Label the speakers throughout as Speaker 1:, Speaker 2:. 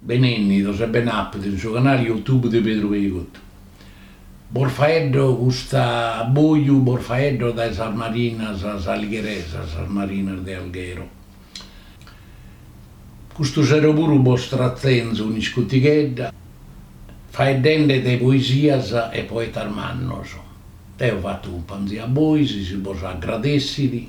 Speaker 1: Benennidos e ben'appidos in su canale YouTube de Pedru Peigotu. Bos faeddo custa boju bos faeddo dae sas marinas saligheresas, sas marinas de Alghero. Custu sero puru bos tratenzo un'iscutighedda faeddende de poesias e poetas mannos. Deo fatto cumpanzia a bois, si bos aggradessit.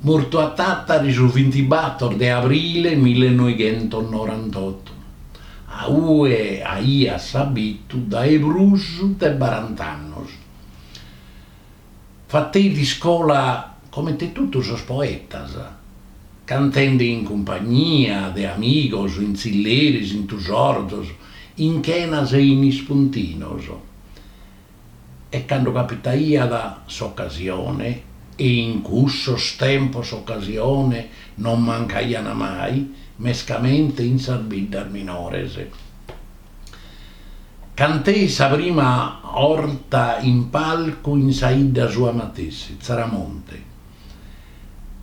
Speaker 1: mortu a Tàtari su bintibator de abrile millenoighentonorantotu, a ue aiat s'abitu dae prus de barant'annos. Fateit iscola comente totu sos poetas, cantende in cumpagnia de amigos, in tzilleris, in tusorzos, in chenas e in ispuntinos. e cando capitaiat s'ocasione, e in cussos tempos ocasiones non mancaian mai, mescamente in sas biddas minores. Canteit sa prima orta in palcu in sa 'idda sua matessi, Tzaramonte.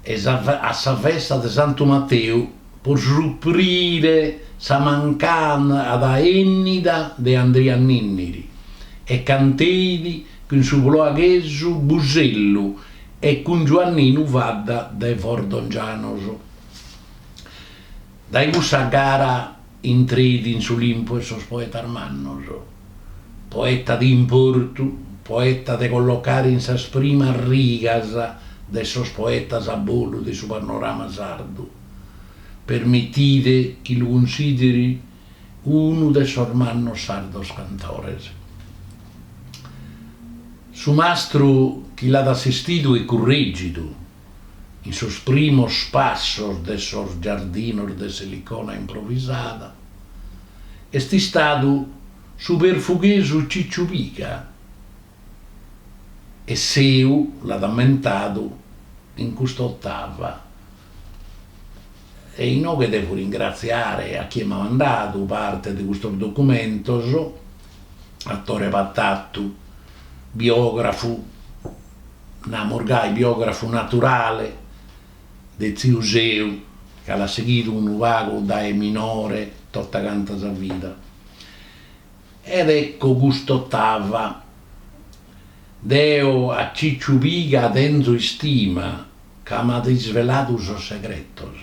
Speaker 1: e a sa festa de Santu Mateu, pro suprire sa mancada 'ennida de Andria Ninniri, e canteit cun su ploaghesu Busellu e cun Giuanninu Fadda de Fordongianos. Dae cussa gara intreit in s'Olimpu 'e sos poetas mannos, poeta de importu, poeta de collocare in sas primas rigas de sos poetas a bolu de su panorama sardu. Permitide chi lu cunsideri unu de sos mannos sardos cantores. Su mastru chi l'at assistidu e currègidu in sos primos passos de sos giardinos de s'Elicona improvisada, est istadu su perfughesu Cicciu Piga, e Seu l'at ammentadu in custa ottava, e inoghe devo ringratziare a chie m'at mandadu parte de custos documentos, a Tore Patatu, biografu Namus gai biografu naturale de tziu Seu, ca l'at seghidu unu pagu dae minore tota canta sa vida. Ed ecco cust'otava, Deo a Cicciu Piga tenzo istima, ca m'at isveladu sos segretos.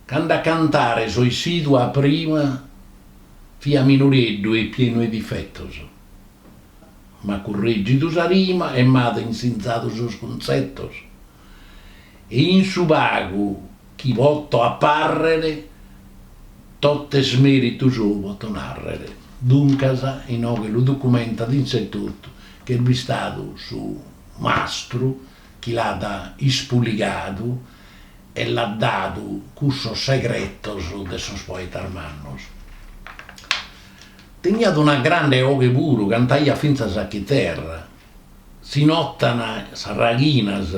Speaker 1: Cando a cantare so issidu a prima, fia minoreddu e pienu 'e difetos. M'at curregidu sa rima e m'at insinzadu sos cuntzetos, e in su pagu chi poto apàrrere, tot'est mèritu sou poto nàrrere. Duncas, inoghe lu documentat isse etotu chi est bistadu su mastru chi l'at ispuligadu e l'at dadu cussos segretos de sos poetas mannos. Teniat una grande 'oghe puru, cantaiat fintzas a chiterra. Si notan sas raghinas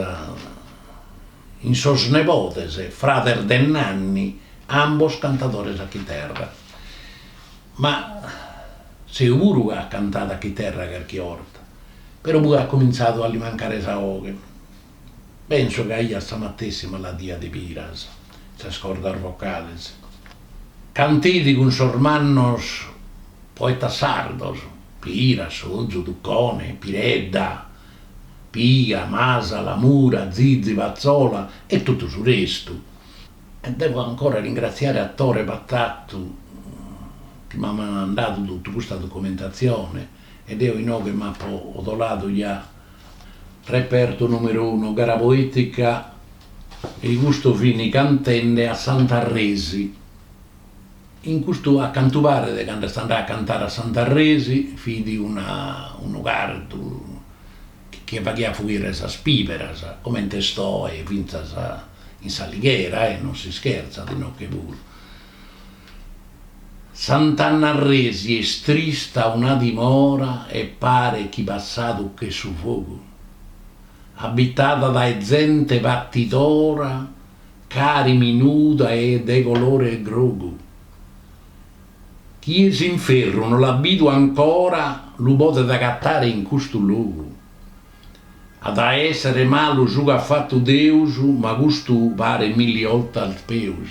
Speaker 1: in sos nebodes, frades Denanni, ambos cantadores a chiterra. Ma Seu puru at cantadu a chiterra carchi 'orta, però poi at comintzadu a li mancare sa 'oghe. Penso chi aiat sa matessi maladia de Piras, sas cordas vocales. Canteit cun sos mannos poetas sardos, Piras, Sozu, Tucone, Piredda, Piga, Masala, Mura, Zizi, Pazzola e totu su restu. E devo ancora ringratziare a Tore Patatu chi m'at mandadu totu custa documentatzione e deo inoghe m'apo odoladu ja Repertu numeru unu, gara poetica e i custu fini cantende a Santarresi. In custu a cantu paret candu est andau a cantare a Santarresi fidi una unu cardu chi faghiat fuire sas piberas comente est oe finzas in s'Alighera e non si scherzat inoghe puru. Sant'Annarresi est trista una dimora e paret chi passadu ch'est su fogu. Abitada dae zente patidora cari minuda e de colore 'e grogu. Chie s'inferru no l'at bidu ancora lu podet agatare in custu logu. At a èssere malu su ch'at fatu Deus ma custu paret milli 'oltas peus.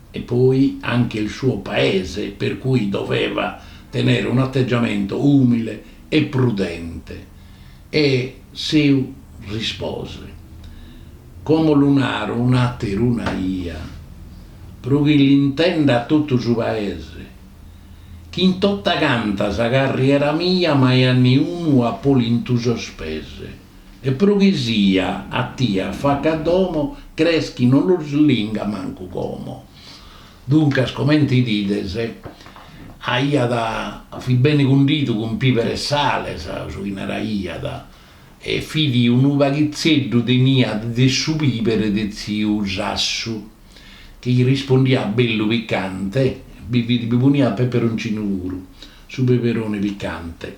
Speaker 1: e poi anche il suo paese, per cui doveva tenere un atteggiamento umile e prudente. E Seu rispose, Como lu naro un'ater'una 'ia, pro chi l'intenda totu su paese, chi in tottaganta sa carriera mia mai a niunu apo lintu sos pese. E pro chi sia a tie afaca a domo crees chi no los linga mancu como. Duncas comente 'idides aiat fit bene cundidu cun piber e sale su chi naraiat e fit unu paghitzeddu teniat de su piber de tziu Sassu chi rispondiat bellu picante bi fit bi poniat peperoncinu puru su peperone picante.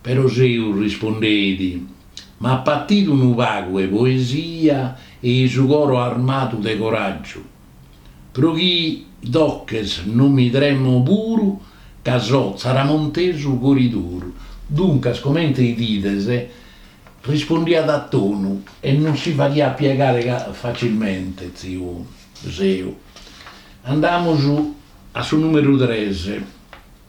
Speaker 1: Però Seu rispondeit, M'ap'atidu unu pagu 'e poesia e i su coro armadu de coràgiu, pro chi doches no mi tremo puru ca so tzaramontesu coriduru. Duncas, comente 'idides, rispondiat a tonu e non si faghiat piegare facilmente tziu Seu. Andamus a su nùmeru tres.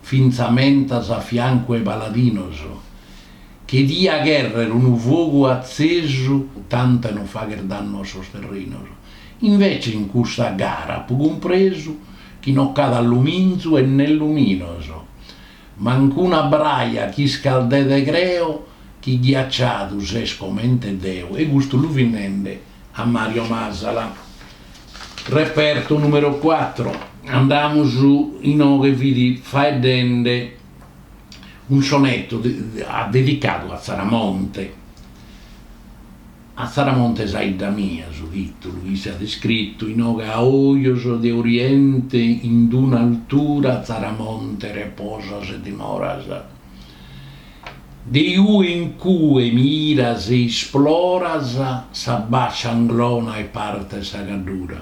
Speaker 1: fintzamentas a fiancu 'e paladinos, che dia cherrer unu fogu atzesu tant'e no fagher dannu a sos terrinos. Invece in custa gara apo cumpresu chi no ch'at alluminzu e nè luminos, manc'una braja ch'iscaldet e creo chi ghiacciadu ses comente deo e custu lu fit nende. A Mario Masala. Reperto numero quattro, andamus inoghe fit faeddende unu sonetu dedicadu a Tzaramonte, a Tzaramonte sa 'idda mia su tìtulu, isse at iscritu, inoghe a ojos de oriente in d-una altura Tzaramonte reposas e dimoras. De ue in cue miras e isploras sa bàscia Anglona e parte 'e sa Gaddura,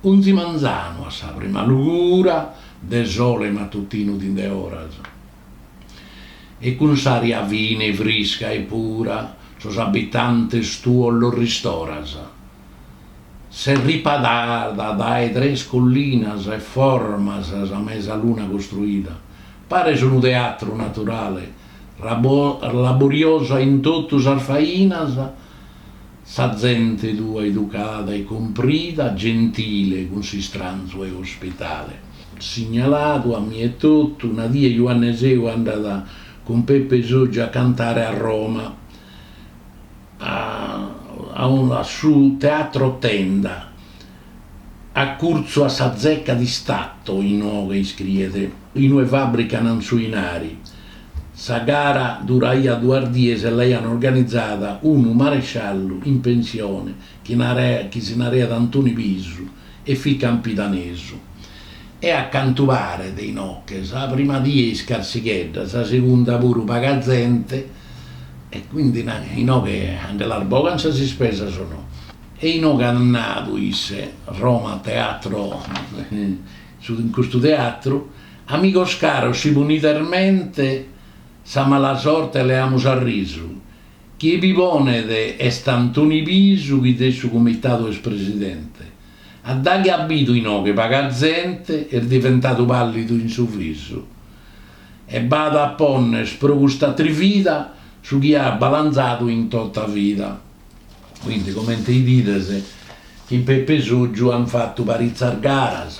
Speaker 1: onzi manzanu a sa prima lugura de sole matutinu t'indeoras, e cun s'ària fine frisca e pura sos abitantes tuos los ristoras. Ses riparada dae tres collinas e formas sa mesaluna costruida. Pares unu teatru naturale, laboriosa in totu sas fainas, sa zente tua educada e cumprida, gentile cun s'istranzu e ospitale. Signaladu a mie totu, una die Juanne Seu andat cun Peppe Sotgiu a cantare a Roma. a su Teatro Tenda, acurtzu a sa Zecca di Stato, inoghe iscriet, in ue fàbrican su 'inari. Sa gara duraiat duas dies e l'aian organizada unu maresciallu in pensione chi naraiat, chi si naraiat Antoni Pisu, e fit campidanesu e a cantu paret inoghe sa prima die iscarsighedda sa segunda puru paga zente e quindi inoghe a nde las bogan sas ispesas o no e inoghe at nadu isse Roma teatro in custu teatru amigos caros si ponides mente sa mala sorte leamus a risu Chie bi ponet est Antoni Pisu chi de su Comitadu est presidente. A daghi at bidu inoghe paga zente, est diventadu pallidu in su visu e b'at a ponner pro custa trivida su chi at balanzadu in tota vida. Quindi comente 'idides in Pepe Soggiu an fatu paritzas garas.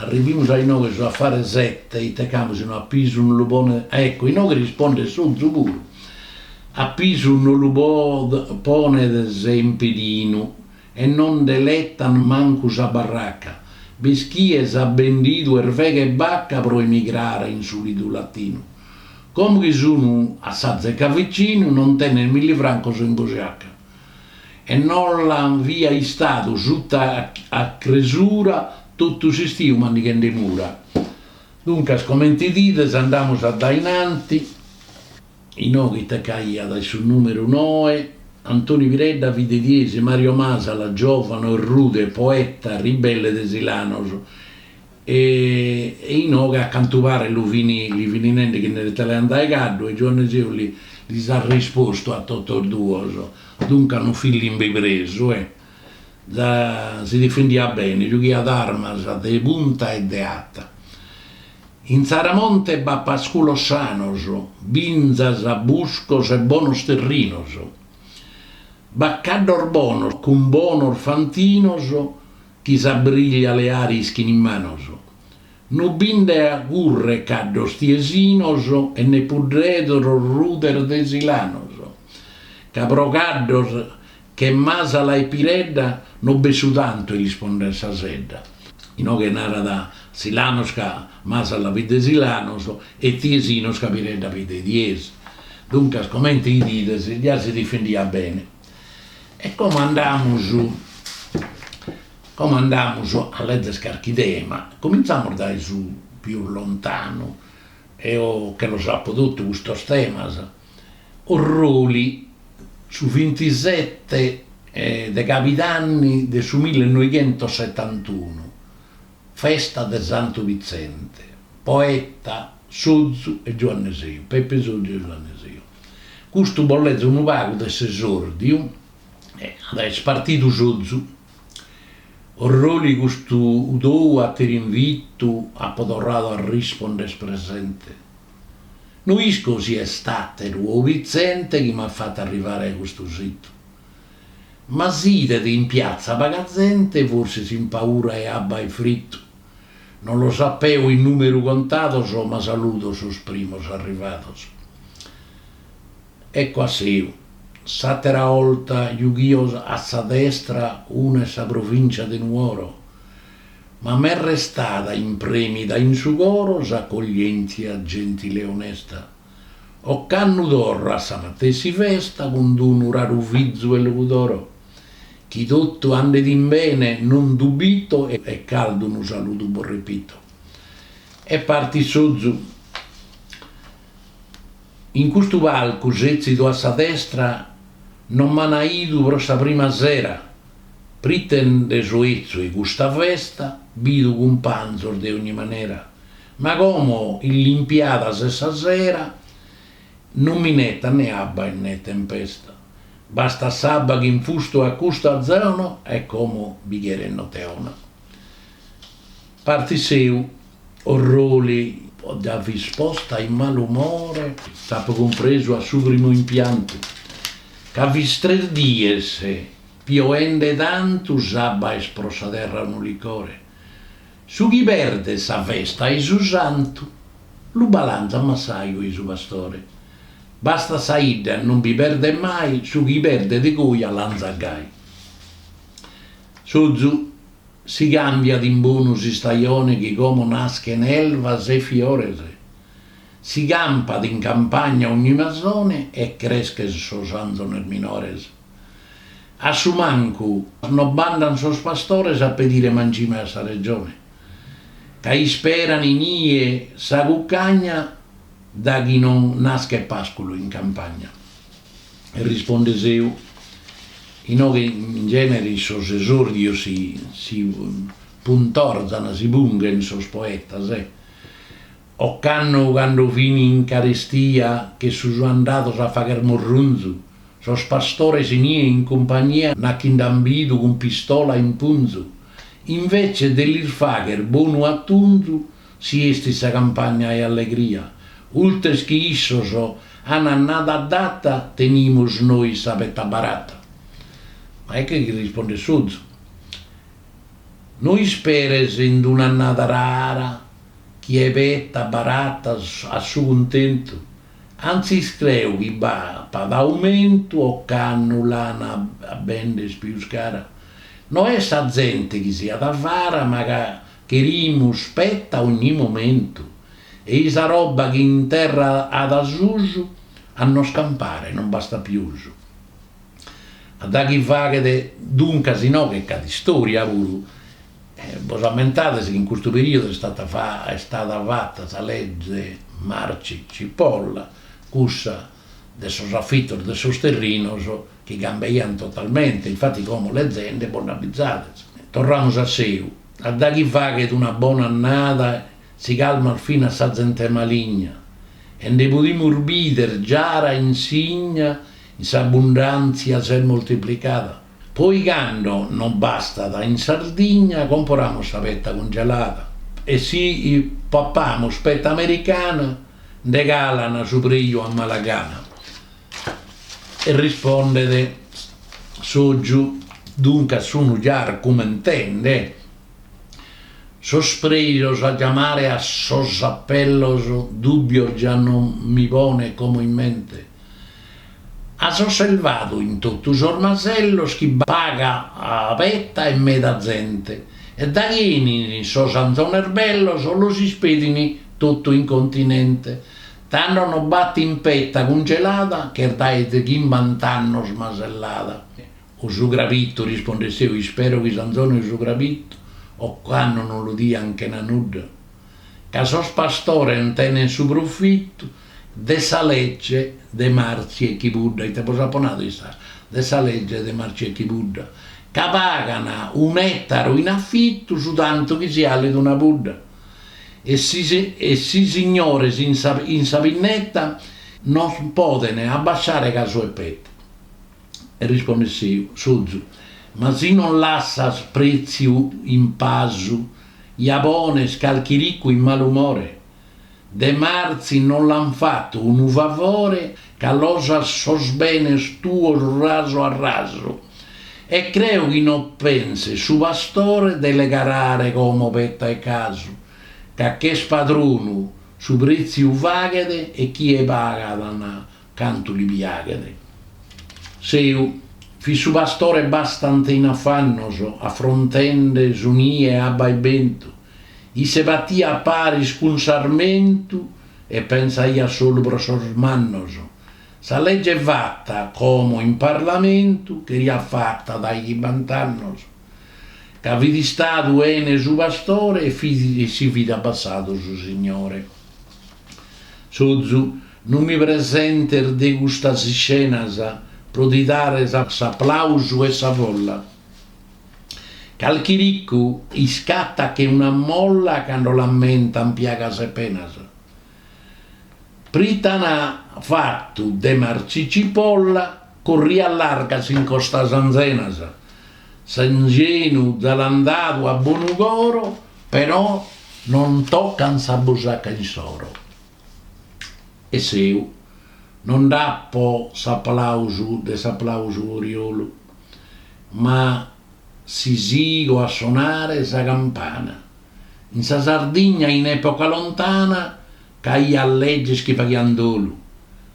Speaker 1: Arrivimus a inoghe su affare sette ite c'amus in una pisu no lu po a ecco inoghe rispondet Sozu puru a Pisu no lu ponedas in pidinu e no nde l'etan mancu sa barraca b'est chie s'at bendidu erveghe e bacca pro emigrare in su lidu latinu como chi sun a sa zeca vicinu non tenet millifrancos in busciaca e non l'an fia istadu suta a cresura totu s'istiu mandighende mura. Duncas comente 'idides andamus a dae innanti, inoghe ite ch'aiat in su numeru noe, Antoni Piredda fit de Tiesi, Mario Masala, giovanu e rude, poeta, ribelle de Silanos, E inoghe a cantu paret lu fin li fin nende chi nde l'etaiant dae caddu e Giuanne Seu li lis at rispostu a totus duos, duncas no fit limbipresu e za si difendiat bene, giughiat armas de punta e de ata. In Tzaramonte b'at pasculos sanos, binzas, buscos e bonos terrinos. B'at caddos bonos cun bonos fantinos. Chi sa briglia leare ischin in manos. No bi nde acurret caddos tiesinos e ne puddredos rudes de Silanos. Ca pro caddos che Masala e Piredda no b'est su tantu 'e lis pondere sa sedda. Inoghe narat Silanos ca Masala fit de Silanos e tiesinos ca Piredda fit de Tiesi. Duncas comente 'idides, già si difendiat bene. E como andamus como andamus a lezer carchi tema, comintzamus dae su pius lontanu, eo che los apo totu custos temas, Orroli, su vintisette de cabidanni de su millenoighentosetantunu, Festa de Santu Vitzente, poeta Sozu e Giuanne Seu, Peppe Sozu e Giuanne Seu. Custu bos lezo unu pagu de s'esòrdiu e at est partidu Sozu. Orroli custu tou ater'invitu apo torradu a rispondere presente. No isco si est àteru o Vitzente chi m'at fatu arrivare a custu situ. Ma s'idet in piatza paga zente, forsis in paura 'e abba e fritu. Non los ap'eo in numeru contados, ma saludo sos primos arrivados. Ecco a Seu. S'atera 'olta jughio a sa destra una 'e sa Provincia de Nuoro, ma m'est restada impremida in su coro s'accoglientzia gentile e onesta. ocannu torro a sa matessi festa cun d-unu raru fizu 'e Logudoro, chi totu andet in bene non dubito e caldu unu saludu bos repito. E partit Sozu. In custu palcu setzidu a sa destra non m'ana 'idu pro sa prima sera, prite nde so 'etzu 'e custa festa bidu cumpanzos de ogni manera, Ma como illimpiada s'est sa sera non minetat ne abba e ne tempesta, bastat s'abba chi infustu at custa zona e como bi cheret note 'ona. Partit Seu. Orroli 'idda fis posta in malumore. T'apo cumpresu a su primu impiantu, ca fis tres dies pioende tantu s'abba est pro sa terra unu licore. Su chi perdet sa festa e su santu lu balanzat massaju ei su pastore. Bastat sa 'idda non bi perdet mai su chi perdet goi alanzat gai. Sozu. Si cambiat in bonu s'istajone chi como naschen elvas e fiores si campat in campagna ogni masone e creschen sos anzones minores. A su mancu no b'andan sos pastores a pedire mangime a sa Regione, ca isperan inie sa cucagna daghi non naschet pàsculu in campagna. E risponde Seu, inoghe in genere sos esòrdios si puntorzan, si punghen sos poetas, e Ocannu candu fin in carestia che sun andados a fagher murrunzu, sos pastores inie in cumpagnia nachi nd'an bidu cun pistola in punzu, invece de lis fagher bonu attunzu si 'estit sa campagna 'e allegria, ultres chi issos an annada adata tenimus nois sa petta barata. Ma ecche chi rispondet Sozu, No isperes in d'un'annada rara, chi e peta barata a su cuntentu, antzis creu chi b'apat aumentu ocannu l'an a bender pius cara. No est sa zente chi siat avara ma ca cherimus peta ogni momentu e i sa roba chi in terra at a susu a nos campare non bastat pius a daghi faghet duncas inoghe ch'at istoria puru. Bos ammentades chi in custu perìodu est istada fata sa lege De Marzi Cipolla, cussa de sos afitos de sos terrinos chi cambeiant totalmente, infati como lezende bos nde abizades. Torramus a Seu, a daghi faghet una bona annada si calmat finas sa zente maligna e nde podimus bider giara insigna in s'abundàntzia s'est moltiplicada. Poi cando non bastat in Sardigna comporamus sa peta cungelada e si papamus peta americana nde calan su preju a mala gana. E rispondet Sozu, duncas sunu già cumentende sos prejos a giamare a sos appellos dubbios già non mi ponet como in mente. As osservadu in totu sos masellos chi paga petta e meda zente, e daghi 'enin sos anzones bellos los ispedin totu in continente, tando nos batin petta cungelada ch'est dae de chimbant'annos masellada. O su crabitu, rispondet Seu, ispero chi s'anzone e su crabitu ocannu non lu dian chena nudda, ca sos pastores nde tenen su profitu de sa legge de Marzi e Chibudda, ite bos apo nadu istas de sa legge de Marzi e Chibudda, ca pagan un'ètaru in afitu su tantu chi si 'alet una pudda, e e si signores in sa in sa pinneta nos poden abbasciare casu e peta. E rispondet Sèu, Sozu, ma si non lassas prètziu in pasu, ja pones calchi ricu in malumore, De Marzi non l'an fatu unu favore ca los as sos benes tuos rasu a rasu e creo chi no penset su pastore de legarare como peta e casu ca ch'est padronu su pretziu faghet e chie pagat na Cantu li piaghet. Seu. Fit su pastore bastante in afannos, afrontende su nie abba e bentu. Isse patiat paris cun s'armentu e pensaiat solu pro sos mannos. Sa legge fatta, como in Parlamentu, cheriat fatta dae chimbant'annos, ca fit istadu 'ene su pastore e fit e si fit abbassadu su signore. Sozu. Non mi presentes de custas iscenas pro ti dare s'aplausu 'e sa folla. Calchi ricu iscatat che una molla cando l'ammentan piagas e penas. Prit'an fatu De Marzi Cipolla corrias largas in costas anzenas. S'anzenu già l'an dadu a bonu coro però non tocan sa busaca insoro. E Seu. No nd'apo s'aplausu de s'aplausu oriolu, ma si sigo a sonare sa campana. In sa Sardigna in epoca lontana c'aiat leges chi faghiant dolu.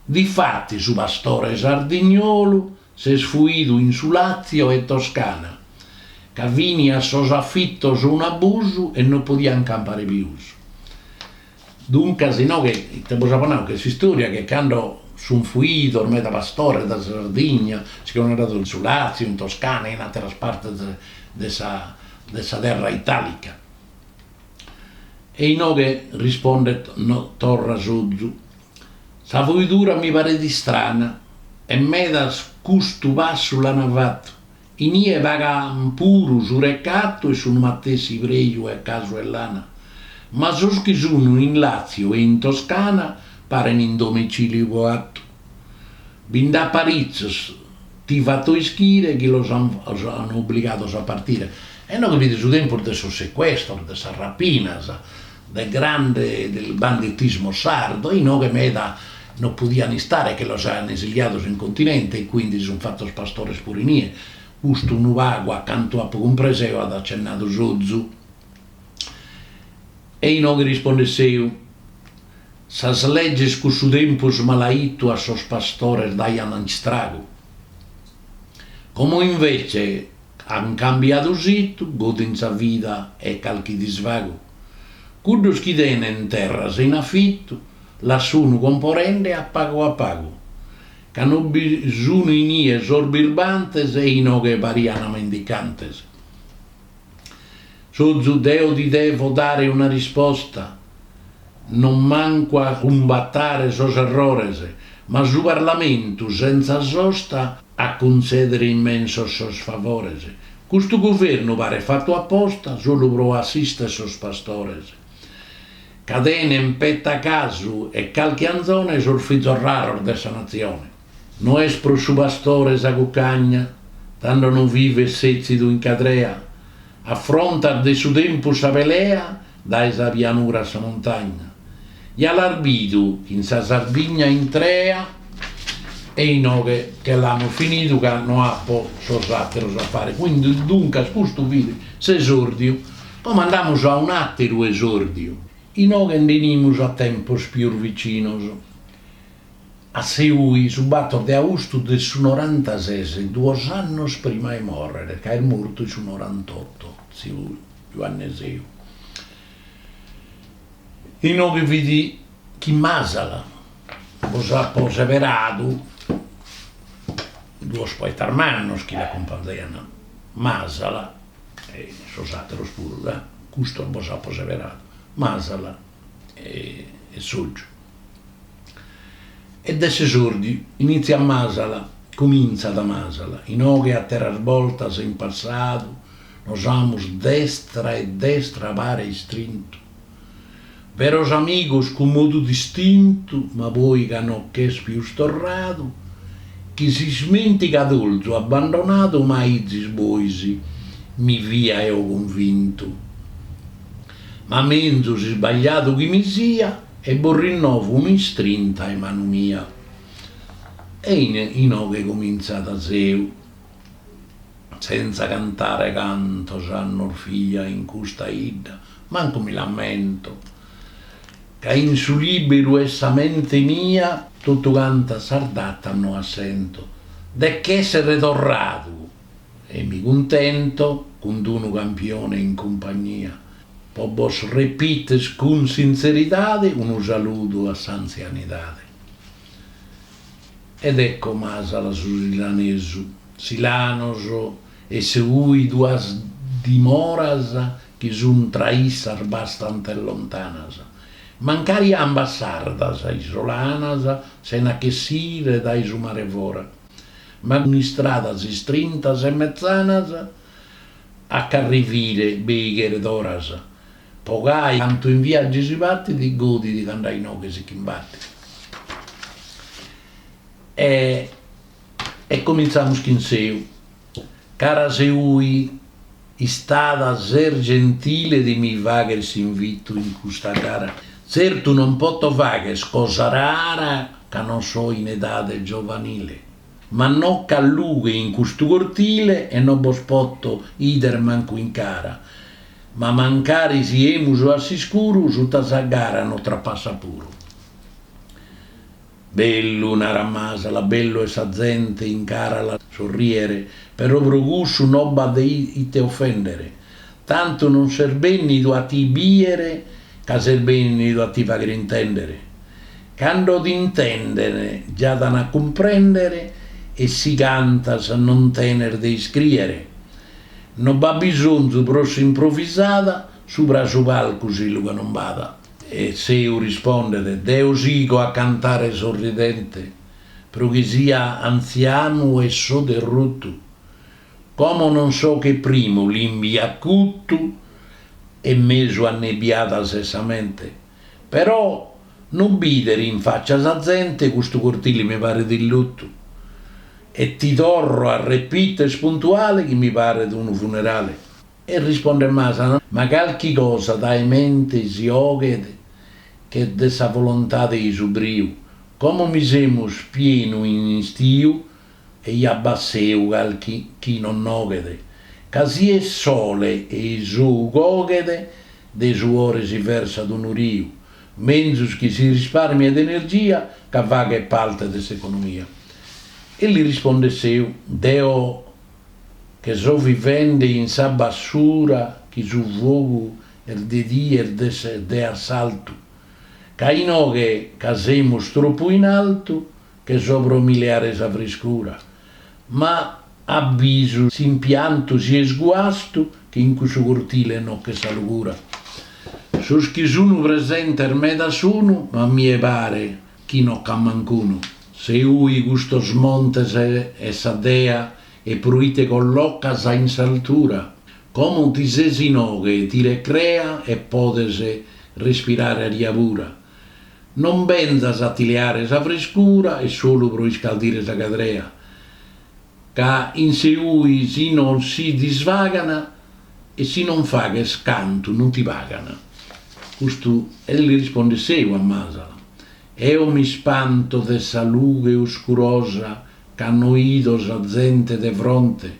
Speaker 1: Difatis su pastore sardignolu s'est fuidu in su Làtzio e Toscana, ca fini sos afitos unu abusu e no podiat campare pius. Duncas inoghe ite bos apo nau che s'istòria che cando sunt fuidos meda pastores dae sa Sardigna si ch'ant andadu in su Làtziu, in Toscana e in àteras partes de sa de sa terra itàlica. E inoghe rispondet torra Sozu, Sa fuidura mi paret istrana e medas custu passu l'ant fatu Inie pagant puru su recatu e sunu matessi preju e casu e lana, ma sos chi sunu in Latzio e in Toscana paren in domiciliu coatu. Bi nd'at paritzos, ti fato ischire chi los an obligados a partire. E inoghe fit su tempus de sos secuestros, de sas rapinas. de grande del banditismo sardo, inoghe meda no podian istare che los aian esiliados in continente e quindi si sun fatos pastores puru inie, custu unu pagu a cantu apo cumpresu eo at accennadu Sozu. E inoghe rispondet Seu, Sas legges cussu tempus malaittu a sos pastores daian istragu. Como invece, An cambiadu situ, godin sa vida e calchi disvagu. Cuddus chi tenen terras in afitu las sunu comporende a pagu a pagu. Ca no bi sunu inie sos birbantes e inoghe pariana mendicantes. Sozu. Deo ti devo dare una risposta? non mancu a cumbatare sos errores, ma su Parlamentu sentza sosta a cuntzèdere immensos sos favores. Custu guvernu paret fatu a posta solu pro assistere sos pastores, ca tenen peta casu e calchi anzone sos fizos raros de sa natzione. No est pro su pastore sa cucagna, tando no vivet sètzidu in cadrea, affrontat de su tempus sa pelea Dae sa pianura a sa muntagna. Ja l'as bidu in sa Sardigna intrea e inoghe che l'amus finidu ca no apo sos àteros a fare, quindi duncas custu fit s'esòrdiu, como andamus a un'àteru esòrdiu, inoghe nde 'enimus a tempos pius vicinos. A Seui, su bator de austu de su norantases, duos annos prima 'e mòrrere, ca est mortu in su norantotto, tziu Juanne Seu, inoghe fit chin Masala, bos apo seberadu duos poetas mannos chi l'acumpanzaiant, Masala, e sos àteros puru, custos bos apo seberadu, Masala e Sotgiu e de s'esòrdiu inìtziat Masala, cumintzat Masala, inoghe àteras bortas in passadu nos amus destra e destra a pare istrintu, beros amigos cun modu distintu, ma poi ca no ch'est pius torradu, ch'in s'ismentigadolzu abbandonadu m'aizis bois mi fia eo cunvintu. Ma menzus isbagliadu chi mi sia e bos rinnovo un'istrinta 'e manu mia. E inoghe comintzat Seu senza cantare cantos annos fia in custa 'idda, mancu mi l'ammento, ca in su liberu 'e sa mente mia totu cantas sas datas no assento, de ch'essere torradu. e mi cuntento cun d-unu campione in cumpagnia. Po bos repiter cun sinzeridade unu saludu a s'antzianidade. Ed ecco Masala su silanesu, Silanos e Seui duas dimoras chi sun tra issas bastante lontanas, mancari ambas sardas, isolanas, sena ch'essire dae su mare fora. Ma cun istradas istrintas e metzanas, a ch'arrivire bei cheret oras, po gai cantu in viaggi si patit, godit cando a inoghe si ch'imbatit. E comintzamus chin Seu. Cara Seui istada ses gentile de mi fagher s'invitu in custa gara. Tzertu non poto fagher cosa rara ca non so in edade giovanile, ma no ch'at lughe in custu cortile e no bos poto 'ider mancu in cara, ma mancari siemus a s'iscuru suta sa gara no trapassat puru. Bellu, narat Masala, bellu est sa zente in cara a la sorriere, però pro cussu no b'at de ite ofendere, tantu non ses bennidu a ti biere ca ses bennidu a ti faghere intendere. Cando t'intenden già t'an a cumprendere e si cantas non tenes de iscriere. No b'at bisonzu pro s'improvisada, subra a su palcu si lughe non b'at. E Seu rispondet, Deo sigo a cantare sorridente, pro chi sia antzianu e so derrutu, como non so che primu limbi acutu e mesu annebbiada s'est sa mente, però no bider in faccia sa zente custu cortile mi paret in lutu, e ti torro a repiter puntuale chi mi paret unu funerale. E rispondet Masala, ma calchi cosa dae mente si oghet che de sa volontade e su briu, como mi semus pienu in istiu e ja b'at, Seu, calchi chi non noghet, ca si est sole e i s'ou coghet de suore si versat unu riu, menzus chi si risparmiet energia ca faghet parte de s'economia. E li rispondet Seu, deo che so vivende in sa bassura chi su fogu est de die est de se de assaltu ca inoghe ca semus tropu in altu che so pro mi leare sa friscura ma a bisu s'impiantu si est guastu che in cussu cortile no ch'est sa lugura sos chi sunu presentes meda sunu ma a mie pare chi no c'at manc'unu. Seui custos montes est sa dea e pruite collocas in s'altura, como ti ses inoghe e ti recrea e podes respirare aria pura, non benzas a ti leare sa frescura e solu pro iscaldire sa cadrea, ca in Seui si non si disvagan e si non faghes cantu non ti pagan. Custu e li rispondet Seu a Masala. Eo mi spanto de sa lughe oscurosa cando 'ido sa zente de fronte.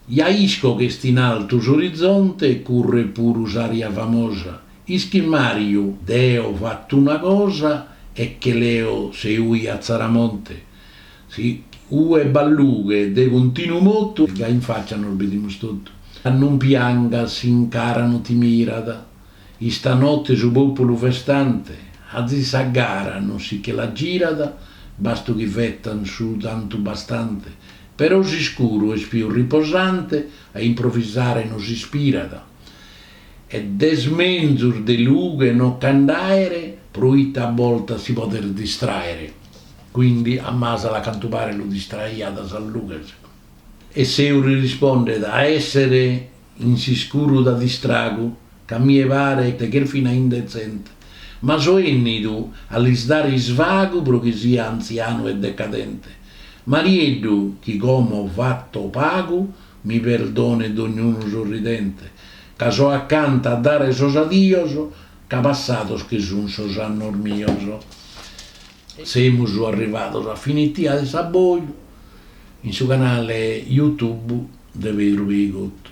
Speaker 1: Ja isco ch'est in altu s'orizonte e curret puru s'aria famosa. Ischis Mariu, deo fatto una cosa e che leo Seui a Tzaramonte. Si ue b'at lughe de continu motu. Giai in faccia nos bidimus totu. Non piangas si in cara no ti mirat. Istanotte su populu festante. Azis sa gara non si che la girat. Bastu chi fetan su tantu bastante. Però s'iscuru est pius riposante. A improvisare no s'ispirat. Ed est menzus de lughe no che nd'aere. Proita a boltas si podet distraere. Quindi a Masala cantu paret lu distraiat sas lughes. E Seu li rispondet a essere in s'iscuru da distragu ch'a mie paret ch'est fina indezente, ma so ennidu a lis dare isvagu pro chi sia anzianu e decadente. Marieddu chi como fatto pagu mi perdonet dognunu sorridente ca so accanta a dare sos adios ca passados che sun sos annos mios. Semus arrivados a finitia de s'aboju in su canale YouTube de Pedru Peigottu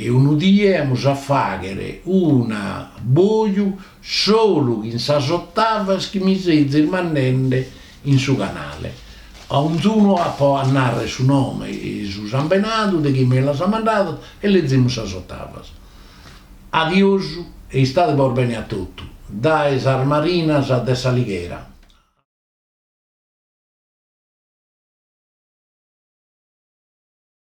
Speaker 1: e unu die amus a faghere un'aboju solu chin sas ottavas chi mi sezis mandende in su canale. A onzunu apo a narrer su nome e su sambenadu de chie mi las at mandadas e lezimus sas ottavas. Adiosu e istadebos bene a totu dae sas marinas de s'Alighera.